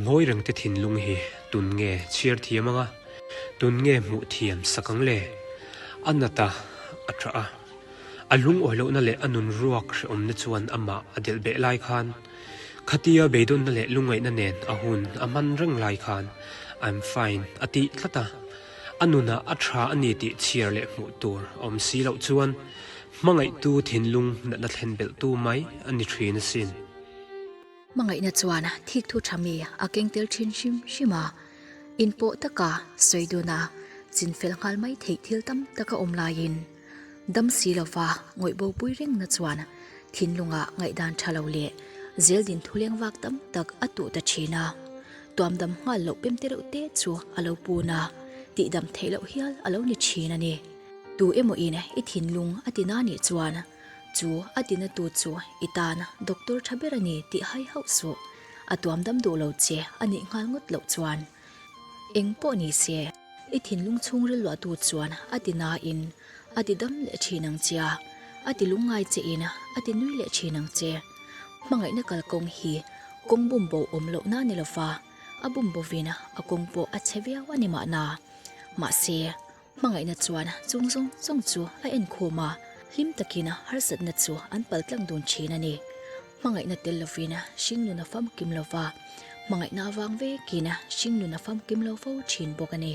Hnawi rengte thinlung hi tun nge chhiar thiam anga, tun nge hmuh thiam sak ang le? A nata a ṭha a, a lungawi lohna leh a nun ruak hrehawmna chuan amah a delh beh lai khan, khatia beidawnna leh lungaihna nen a hun a hman reng lai khan I'm fine a tih tlat a. A nunah a ṭha a ni tih chhiar leh hmuh tur a awm si loh chuan hmangaihtu thinlung natna thlen belhtu mai a ni ṭhin asin. Hmangaihna chuan thik thu tha mi a keng tel thin hrim hrim a, in pawh taka sawi duna chin fel nghal mai theih thil tam tak a awm lai in dam si lova ngawih bo pui reng na chuan thinlunga ngaih dan tha lo leh zeldin thuleng vak tam tak a tuh ta thin a, tuam dam nghal loh pem te reuh te chu a lo pun a, tih dam theih loh hial a lo ni thin a ni. Tu emaw in i thinlung a ti na nih chuan. Chu a ti na tu chu i tan a, doctor tha ber a ni tih hai hauh suh. A tuam dam duh lo che, a nih nghal ngawt loh chuan, Eng pawh ni se, i thinlung chhung rilruah tu chuan a ti na in a ti dam leh thin ang che a, a ti lung ngai che in a ti nui leh thin ang che. Hmangaihna kal kawng hi kawng bum bo awm loh na ni lo va, a bum bo vin a kawng pawh a che viau a ni mah na. Mahse, Hmangaihna chuan chung zawng zawng chu a enkhawm a, hlim takin harsatna chu an pal tlang dun thin a ni. Hmangaihna tel lovin hring nun a famkim lo va, hmangaihna a vang vekin hring nun a famkim lo fo thin bawk a ni.